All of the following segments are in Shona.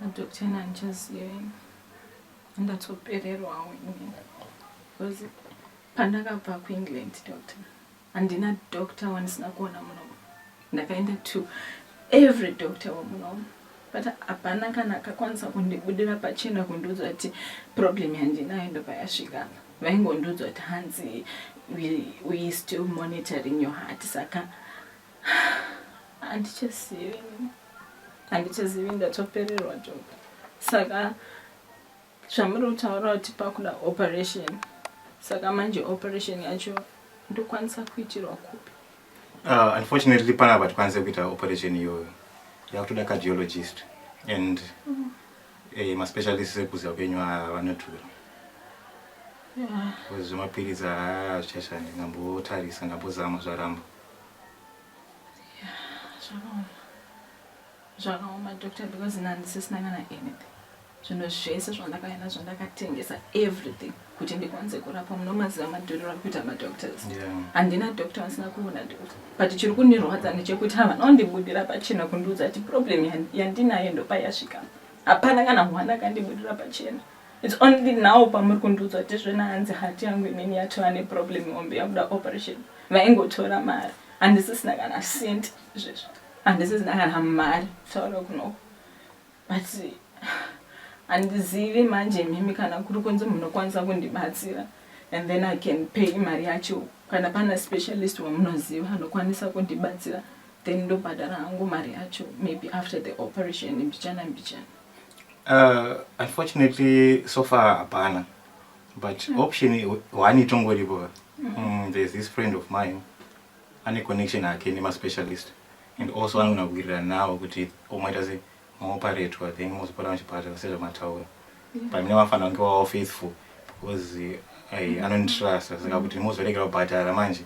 Madoctor ena handichazive ndatsopererwawo ini because pandakabva kuengland doctor handina doctor wandisina kuona munomu ndakaenda to every doctor wemunomu but hapana kana akakwanisa kundibudira pachena kundiudza kuti problem yandinayo ndopayasvika vaingondiudza kuti hanzi we, we still monitoring your heart saka Handichazivi, handichazivi ndatopererwa joga. Saka zvamuri kutaura kuti pakuda operation, saka manje operation yacho ndokwanisa kuitirwa kupi? Uh, unfortunately pana apa tikwanise kuita operation iyoyo yakutoda cardiologist and mm. eh, maspecialist ekuziva kwenyu vanotura zvemapiritsi haa zvichashandi ngambotarisa ngambozama zvaramba zvakaoma doctor because ini handisisina kana anything zvinhu zvese zvandakaya nazvo ndakatengesa everything kuti ndikwanise kurapwa munomaziva madhuriro ari kuita madoctors handina yeah. doctor vasina kuona doctor but chiri kundirwadza ndechekuti havana kundibudira pachena kundiudza kuti problem yandinayo ndopayasvika hapana kana hwana kandibudira pachena yeah. It's only now pamuri kundiudza kuti zvena hanzi hati yangu inini yatova neproblem hombe yakuda operation vaingotora mari handisisina kana cent izvezvo handisisina kana mari taura kunoko but handizivi manje mimi kana kuri kunzi munokwanisa kundibatsira and then i can pay mari yacho kana pana specialist wamunoziva anokwanisa kundibatsira then ndobhadhara hangu mari yacho maybe after the operation mbichana mbichana Uh, unfortunately so far hapana but mm. option one itongoripo ka mm. mm, there's this friend of mine ane connection ake nemaspecialist and also anogona kuwirirana navo kuti omaita se maoparetwa then mozopota muchipatara sezvamataura mm. but mine vafana vange vavo faithful because eh, ai mm. anonditrasta saka kuti mozoregera kubhadhara manje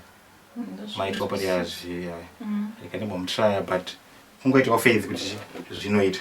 mm, maitwa pati yazvi ikandimbomutraya but kungoitawo faith kuti zvinoita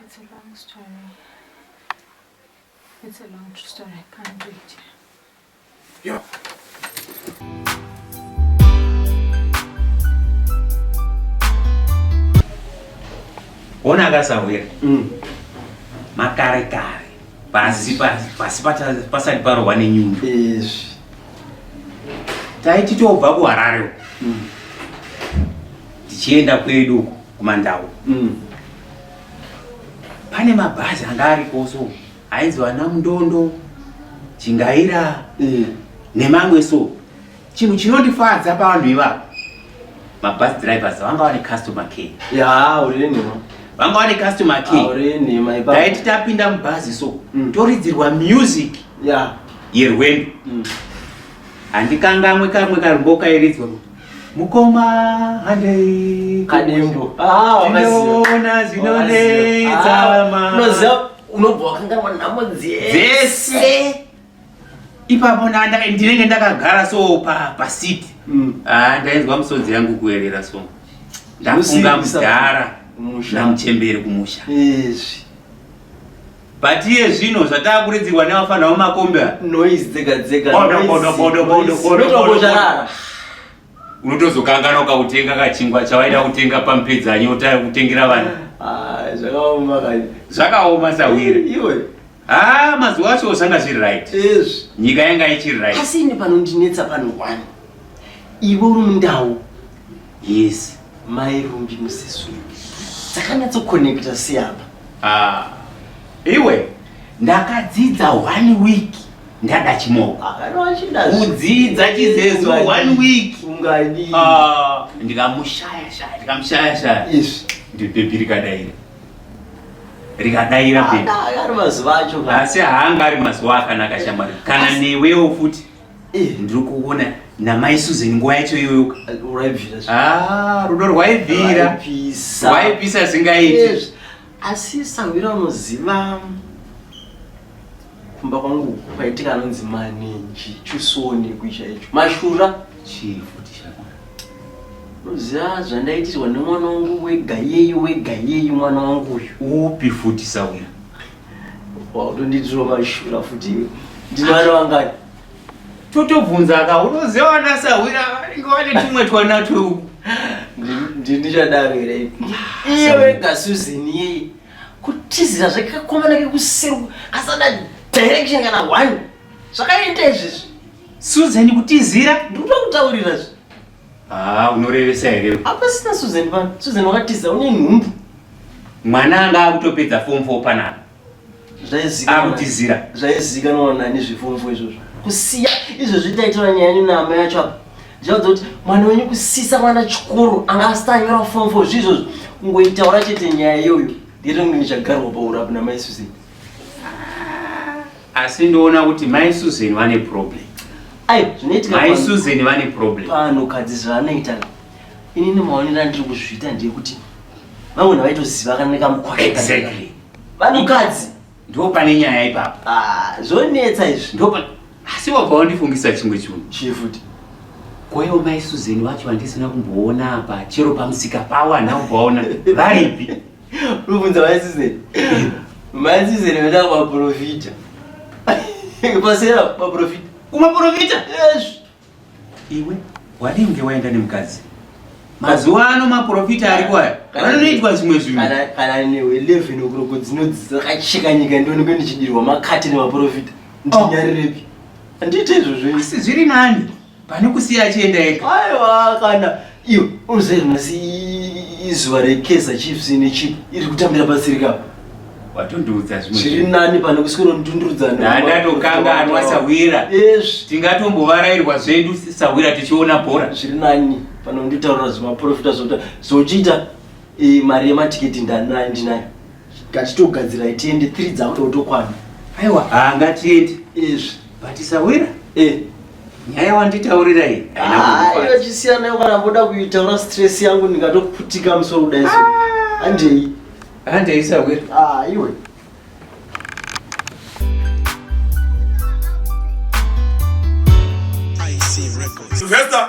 It's a long story. It's a long story. I can't do it. Yeah. Ona akasauya mm. makare kare pasi pasi pasati parohwa nenyundo taiti tobva kuharare mm. tichienda kwedu kumandau mm. pane mabhazi anga ariko so ainzi vana mundondo chingaira mm. nemamwe so chinhu chinondifadza pavanhu ivavo mabus drivers vanga vane customer care ya uri nenhema vanga vane customer care uri nenhema ipa dai titapinda mubhazi so mm. toridzirwa music ya yerwendo mm. handikangamwe kamwe karumbo kairidzwa Mukoma handei kadembo ah, ndinoona zvinonetsa ah, mama unobva wakanganwa nhamo dzese ipapo ndinenge ndakagara so pasiti mm. ah, ndainzwa musodzi yangu kuerera so ndafunga mudhara namuchemberi kumusha But iye zvino zvataakuredziwa nevafana vemakombi aya. Noise dzega dzega. Bodo bodo bodo bodo bodo bodo. Charara. Unotozokanganwa ukakutenga kachingwa chawaida kutenga pamupedzanyo utaya kutengera vana. Ah, zvakaoma kani. Zvakaoma sawire. Iwe. Ah, mazuva acho zvanga zviri right. Yes. Nyika yanga ichiri right. Asi ini panondinetsa pano one. Iwe uri mundau. Yes, mai Rumbi musiswi. Dzakanyatso connecta si apa. Ah. Iwe ndakadzidza one week ndada chimoko. Kudzidza chizezo one week. Ungadi. Ah, ndikamushaya shaya, ndikamushaya shaya. Yes. Ndibhebhi rikadaira. Rikadaira bhebhi. Ari mazuva acho. Asi haanga ari mazuva akanaka shamwari. Kana newewo futi. Eh, ndiri kuona namai Susan nguva yacho iyoyo ah, rudo rwaivira rwaipisa zingaiti asi sahwira unoziva kumba kwangu kwaitika anonzi manenji chusoni kuisha icho mashura unoziva zvandaitirwa nemwana wangu wega yeyi wega yeyi mwana wangu uyu upi futi sahwira Wautonditiro mashura futi ndimwana wangani? Totobvunza ka unoziva vana sahwira vanenge vane tumwe twana tweuku. Ndindichadaro here? Iye wega Susan yeye kutizira zvakakomana kekusiru kasada direction kana one zvakaita izvezvi. Susan kutizira ndikuda kutaurira zve. Haa unorevesa here? Hapasina Susan pano. Susan wakatiza une nhumbu. Mwana anga akutopedza form 4 panapa. Zvaizikanwa. Akutizira. Zvaizikanwa nani zveform 4 izvozvo. Kusiya izvo zvitaitira nyaya yenyu na amai yacho apa. Zvinoda kuti mwana wenyu kusisa mwana chikoro anga asitanyora form 4 zvizvozvo. Kungoitaura chete nyaya iyoyo. Ndiri ndichagarwa paurapi na mai Susan. asi ndoona kuti mai susan vane problem mai susan vane problem pano kadzi zvaanoita ini nemaonero andiri kuzviita ndeyekuti vamwe navaitoziva kana nekamukwasha exactly vanokadzi ndo pane nyaya ipapo ah, zvonetsa izvi ndo asi wabva wandifungisa chimwe chunhu chii futi kwaiwo mai susan vacho vandisina kumboona apa chero pamusika pawo handakumbovaona varipi Rubunza maisizeni. Maisizeni vada kuvaprofita. Pasera vaprofita. Kuvaprofita? Yes. Iwe wadii kunge waenda nemukadzi? Mazuva ano maprofita ariko aya. Vanoitwa zvimwe zvinhu. Kana newe 11 okuroko dzinodzisa kacheka nyika ndionekwe ndichidirwa makati nemaprofita. Oh. Ndinyarepi? Handite izvozvo. Asi zviri nani? pane kusiya achienda ega aiwa kana iyo unoziva nhasi izuva rekesa chiefs nechief iri kutambira pasiri kapa watondiudza zvimwe zviri nani pane kuswero ndundurudzana ndatokanganwa sahwira yes tingatombovarairwa zvedu sahwira tichiona bhora zviri nani pane nditaura zvemaprofita zvota zvochiita eh, mari yematiketi ndanayo ndinayo Ngachitogadzirai tiende 3 dzangu tokwana. Aiwa, ah ngatiende. Izvi batisawira. Eh. Nyaya wanditaurira iyi. Ah, ino chisiyana yo kana mboda kuitaura stress yangu ndingatokuputika musoro kudai so. Ah. Handei. Handei sawira. Ah, iwe. Sylvester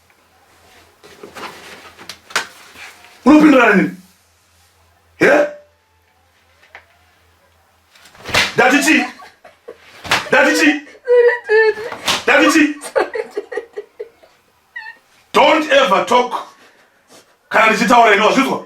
unopindurana nini he ndati chii ndati chii ndati chii don't ever talk kana ndichitaura ini wazvinzwa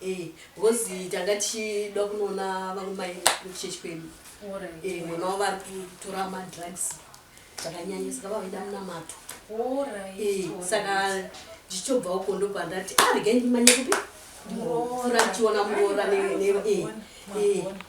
Eh because tanga tichida kunoona vamwe mai kuchechi kwedu eh mwana wavo ari kutora madrugs zvakanyanya saka vavaida munamato eh saka ndichitobva uko ndopandati ah regai ndimanye kupi murora ndichiona murora ne eh eh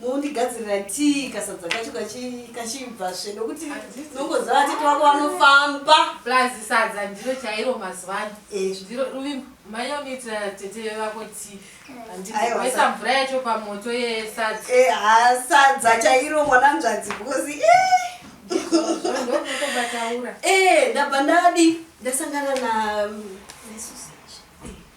mondigadzirira tii kasadza kacho kachibva zve nokuti nongoziva atete wako vanofamba plus sadza ndiro chairo mazuva ano eh. ndiro ruvimbo manya unoitira tete vako tii andiisa mvura yacho pamoto yesadza eh, sadza chairo mwananzvadzi bhozi ndobataura eh. ndabva ndadi ndasangana na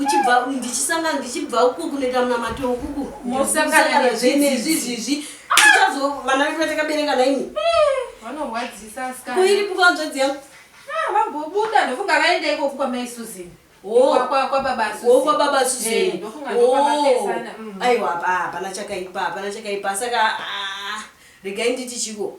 uchibva ndichisangana ndichibva uku kunoita munamato ukuku mosangana zvenezvizvizvi tichazo vana vedu vatakabereka naimi eh, vanorwadzisa asikana kuiri pukanzvadzi yangu ah, vambobuda ndofunga vaenda ikoku kwamai suzini oh. kwababa oh, suzini oh, mm. aiwa hapana chakaipa hapana chakaipa saka ah, regai nditi chiko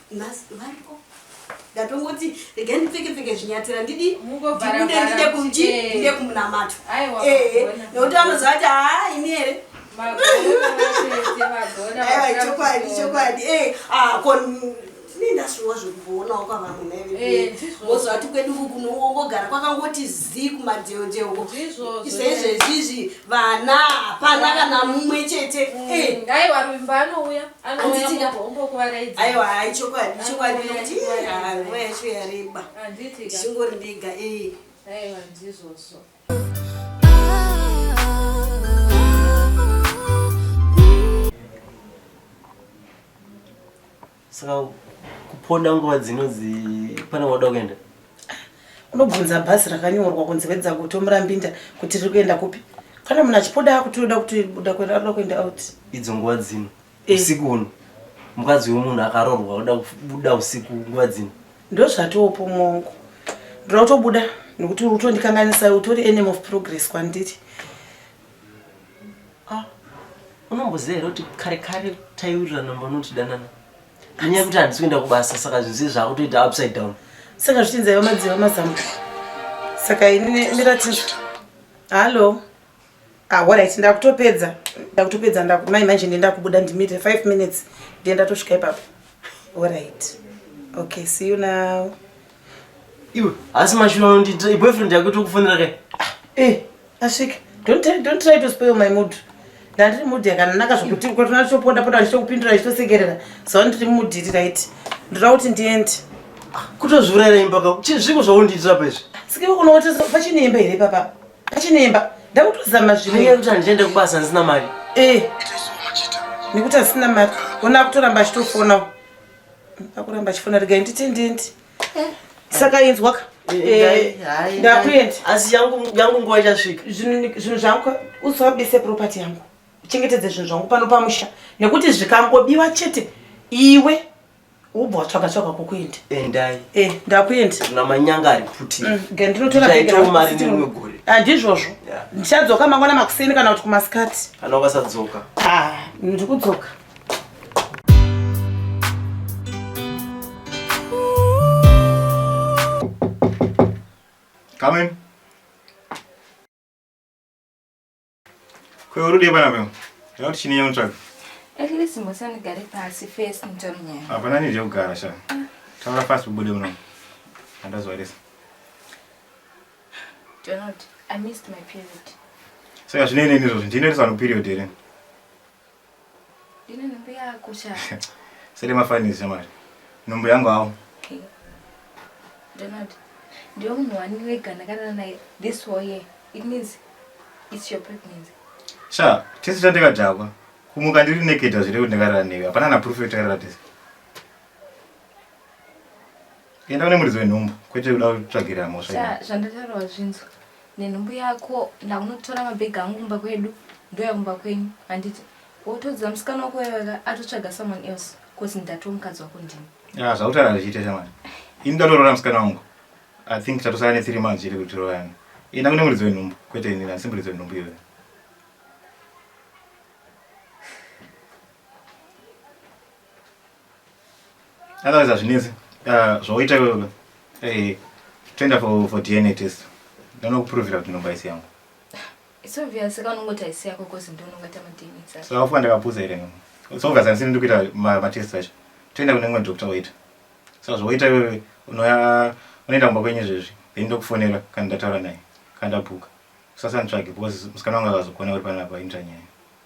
Nhasi variko. Ndatongoti regai ndipfeke pfeke zvinyatira ndidi Mungovhara ndibude ndide vhara. kunji Eh. ndide kumunamato. Aiwa, Eh, vagona. nokuti vanoziva kuti haa ini here. Aiwa ichokwadi ichokwadi. Eh, ah ko ndine ndasuwa zvekuvoonawo kwavamwe naive. Eh, ndizvo. Woziva kuti kwedu uku kunongogara kwakangoti zii kumadheodheo uko. Ndizvozvo. Saizvezvizvi vana hapana kana mumwe chete mm. eh. aiwa ruvimba anouya aiwa hai chokwadi chokwadi nokuti nguva yacho yareba ndichingori ndiga eh. aiwa ndizvozvo Saka kuponda nguva dzinodzi pane wada kuenda? Unobvunza bhazi rakanyorwa kunzi wedza guto murambinda kuti riri kuenda kupi? Kana munhu achipoda kuti unoda kuti uda kuenda unoda kuenda out. Idzo nguva dzino. Eh. Usiku uno. Mukadzi wemunhu akarorwa unoda kubuda usiku nguva dzino. Ndozvatopo mongo. Ndoda kutobuda nekuti uri kutondikanganisa utori enemy of progress kwandiri. Ah, unomboziva here kuti kare kare taiwirirana mba unotidanana nyaya yekuti handisi kuenda kubasa saka zvinhu zii zvaakutoita upside down saka zvichinzi aiva madziva mazambo saka ini ndiratiza hallo ahorit ah, ndakutopedza ndakutopedza ndakumai manje ndienda kubuda ndimire five minutes ndienda tosvika ipapo horit okay see you now Iwe asi mashura unondita boyfriend yako tokufonera kai. Ah, eh, asika. Don't try, don't try to spoil my mood. Ndandiri mood yakanaka zvokuti kuti unachoponda ponda ndichokupindura ndichitosekerera. So ndiri mood iri right. Ndoda kuti ndiende. Ah, Kutozvurera imba ka. Zviko zvaundiitira pa izvi. Sike uno kuti pachine imba here papa? Pachine imba. Ndakutozama zvimwe. Ndenge kuti andiende kubasa ndisina mari. Eh. Nekuti asina mari. Ona kutoramba achitofona. akuramba achifona regai nditi ndindi eh. saka inzwaka eh, eh, ndakuenda asi yangu nguva ichasvika zvinhu zvangu usabise property yangu uchengetedze zvinhu zvangu pano pamusha nekuti zvikangobiwa chete iwe ubva watsvaga tsvaga kwokuenda endai eh, ndakuenda na manyanga ari kuti mm, ndinotoraitawo mari nerimwe gore handizvozvo ndichadzoka mangwana makuseni kana kuti kumasikati kana ukasadzoka ah, ndikudzoka Come in. Kwa urudi bana kwa. Leo chini ya mtaka. At least mbosa nigare pasi face mtomnya. Hapana nije kugara sha. Taura fast ubude muno. Andazwa lesa. Do not. I missed my period. Saka zvine nini izvozvi ndine risano period here? Ndine nhumbu yako sha. Sele mafanisi shamwari. Nhumbu yangu hawo. Okay. Donald, ndiwe munhu wani wega ndakarara naye this whole year. It means it's your pregnancy. Sha, tese tatekadhakwa. Kumuka ndiri naked hazvire kuti ndakarara newe. Hapana na proof yekuti takarara tese. Enda une muridzo wenhumbu kwete kuda kutsvagirira mhosva. Zvandataura wazvinzwa. Nenhumbu yako ndaunotora mabhegi angu kumba kwedu ndoya kumba kwenyu handiti wotodza musikana wako wevaka atotsvaga someone else cause ndatoa mukadzi wako ndini. Ya zvautaura zvichiita shamwari. Ini ndatoroora musikana wangu. I think tatosara ne 3 months chete kuti royana. Enda kune muridzo wenhumbu kwete ini asi muridzo wenhumbu iyoyo. Otherwise hazvinetsi ah, zvawaita iwewe eh, toenda for, for DNA test ndanokupurovira kuti nhomba isi yangu It's obvious saka unongoti haisi yako cause ndiwe unongoita madna saka. so afuka ndakapusa here nhomba it's obvious handisini ndiri kuita ma- matest acho toenda kune mumwe doctor waita so zvawaita iwewe unoya unoenda kumba kwenyu zvezvi then ndokufonera kana ndataura naye kana ndabuka usasanditsvage because musikana wangu akazokuona uri panapa inzva nyaya